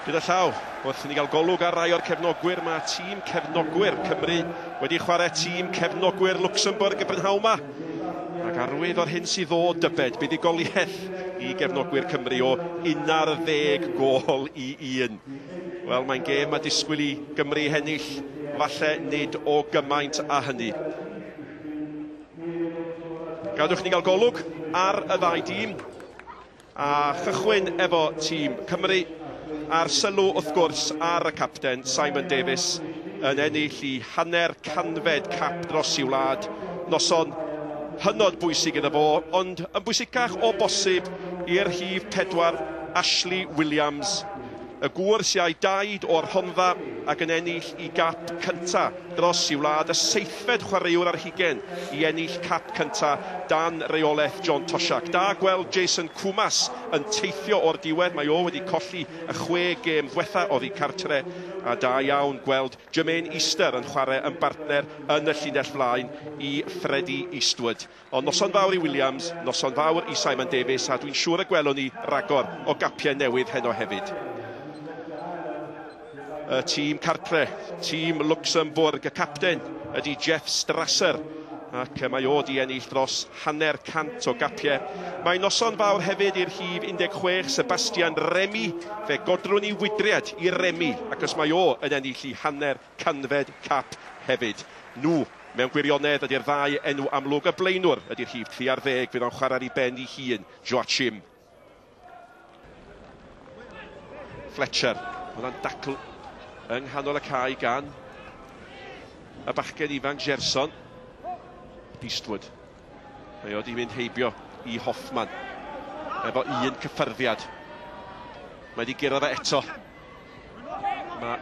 Gyda llaw, wrth i ni gael golwg ar rai o'r cefnogwyr, mae tîm cefnogwyr Cymru wedi chwarae tîm cefnogwyr Luxembourg y brynhawn yma. Ac arwydd o'r hyn sydd ddod, dybed, buddugoliaeth i gefnogwyr Cymru o 11 gol i un. Wel, mae'n gêm mae disgwyl i Gymru hennill, falle nid o gymaint a hynny. Gadwch ni gael golwg ar y ddau dîm. A chychwyn efo tîm Cymru, a'r sylw wrth gwrs ar y capten, Simon Davies, yn ennill i hanner canfed cap dros i wlad, noson hynod bwysig iddo fo, ond yn bwysicach o bosib i'r rhif pedwar, Ashley Williams. Y gŵr sy a'i daid o'r Rhondda ac yn ennill i gap cynta dros i wlad y seithfed chwaraewr ar hugen i ennill cap cynta dan reolaeth John Toshack. Da gweld Jason Koumas yn teithio o'r diwedd, mae o wedi colli y chwe gêm ddwetha oddi cartre a da iawn gweld Jermaine Easter yn chwarae yn bartner yn y llinell flaen i Freddie Eastwood. Ond noson fawr i Williams, noson fawr i Simon Davies a dwi'n siŵr y gwelwn ni ragor o gapiau newydd heno hefyd. Y tîm cartre, tîm Luxembourg, y capten ydy Jeff Strasser ac mae o di ennill dros hanner cant o gapiau. Mae noson fawr hefyd i'r rhif 16, Sebastian Remy, fe godrwn i wydriad i Remy ac os mae o yn ennill i hanner Canfed Cap hefyd. Nhw, mewn gwirionedd, ydy'r ddau enw amlwg. Y blaenwr ydy'r rhif 30, fydd o'n chwarae'r i ben i hun, Joachim. Fletcher. Mae yna'n dacl yng nghanol y cae gan y bachgen ifanc Gerson. Eastwood. Mae o wedi mynd heibio i Hoffman. Efo un cyffyrddiad. Mae wedi gyrraedd o eto. Mae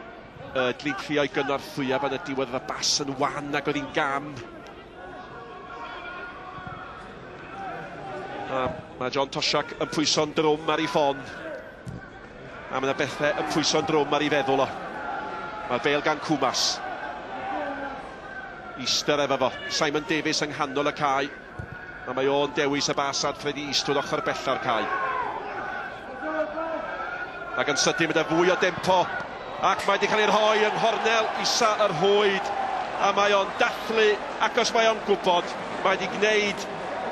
uh, Dlin Clio i gynorthwya fan y diwedd y bas yn wan ac oedd hi'n gam. A mae John Tosiak yn pwyso'n drwm ar ei ffon. A mae yna bethau yn pwyso'n drwm ar ei feddwl o. Mae'r bel gan Cwmas. Easter efo fo. Simon Davies yng nghanol y cae. A mae o'n dewis y bas adfred i Eastwood ochr bella'r cae. Ac yn sydyn mae yna fwy o dempo. Ac mae wedi cael ei rhoi yng nghornel isa yr hwyd. A mae o'n dathlu ac os mae o'n gwybod, mae wedi gwneud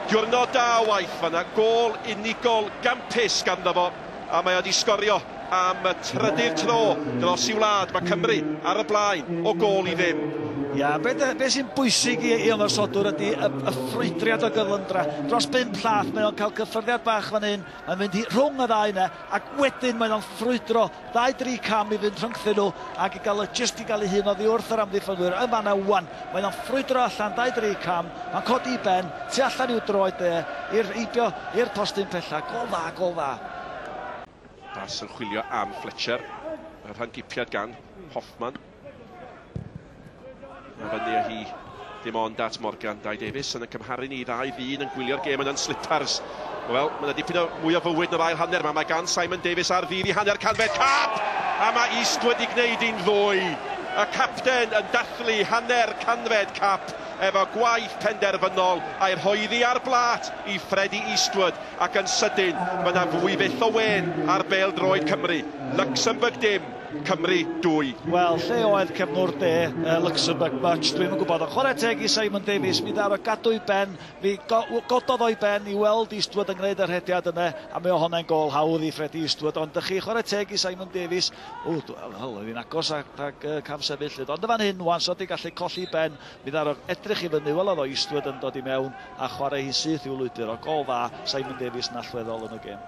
diwrnod da o waith fanna. Gôl unigol gampus ganddo fo. a mae o wedi sgorio am y trydydd tro dros i wlad. Mae Cymru ar y blaen o gol i ddim. Ia, be, be sy'n bwysig i, i ymosodwr ydy y, y ffrwydriad o gyflymdra. Dros bum llath, mae o'n cael cyffyrddiad bach fan hyn, yn mynd hi rhwng y ddau yna, ac wedyn mae o'n ffrwydro ddau dri cam i fynd rhyngthyn nhw, ac i gael y just i gael ei hun oddi wrth yr amddiffynwyr yn fanna wan. Mae o'n ffrwydro allan 23 cam, mae'n codi i ben, tu allan i'w droed de, i'r heibio, i'r postyn pella. Gol dda, gol dda. Pas yn chwilio am Fletcher. Mae'r rhan gipiad gan Hoffman. Mae fyny â hi ddim ond at Morgan. Dai Davies yn y cymharu ni i ddau ddyn yn gwylio'r gêm yna'n slipars. Wel, mae yna dipyn o mwy o fywyd yn yr ail hanner yma. Mae gan Simon Davies ar ddydd i hanner canfed cap! A mae East wedi gwneud un ddwy. Y capten yn dathlu hanner canfed cap efo gwaith penderfynol a'i rhoi iddi ar blât i Freddie Eastwood ac yn sydyn mae yna fwy fyth o wên ar bêl droed Cymru. Luxembourg dim, Cymru dwy. Wel, lle oedd cefnwr De, Luxembourg much? Dwi'm yn gwybod, ond chwarae teg i Simon Davies, mi ddaru o gadw i ben Mi gododd o'i ben i weld Eastwood yn gwneud y rhediad yna a mi o honnau'n gôl hawdd i Freddie Eastwood ond dych chi chwarae teg i Simon Davies. O, wel, oedd hi'n agos at ag uh, cam sefyll lyd. Ond y fan hyn, wan, so di gallu colli ben, mi ddarog edrych i fyny, welodd o Eastwood yn dod i mewn a chwarae hi'n syth i'w lwybr o gol dda Simon Davies yn allweddol yn y gêm.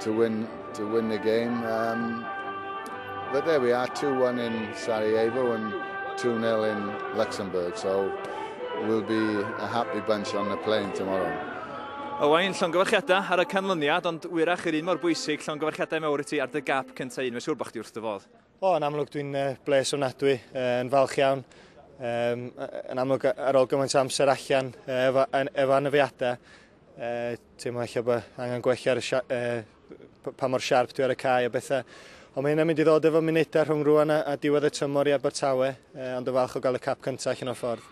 to win to win the game. Um, but there we are, 2-1 in Sarajevo and 2-0 in Luxembourg. So we'll be a happy bunch on the plane tomorrow. Owain, llongyfarchiadau ar y canlyniad, ond wyrach yr un mor bwysig, llongyfarchiadau mawr i ti ar dy gap cyntaf un. Mae'n siŵr bod chdi wrth dy fodd. O, yn amlwg dwi'n uh, bles ofnadwy, uh, yn falch iawn. Um, yn amlwg ar ôl gymaint amser allan uh, efo, efo anafiadau, uh, teimlo eich bod angen gwella ar y uh, pa mor siarp dwi ar y cae a bethau. Ond mae hynna'n mynd i ddod efo munudau rhwng rwan a, a diwedd y tymor i Abertawe, uh, ond y falch o gael y cap cyntaf allan o'r ffordd.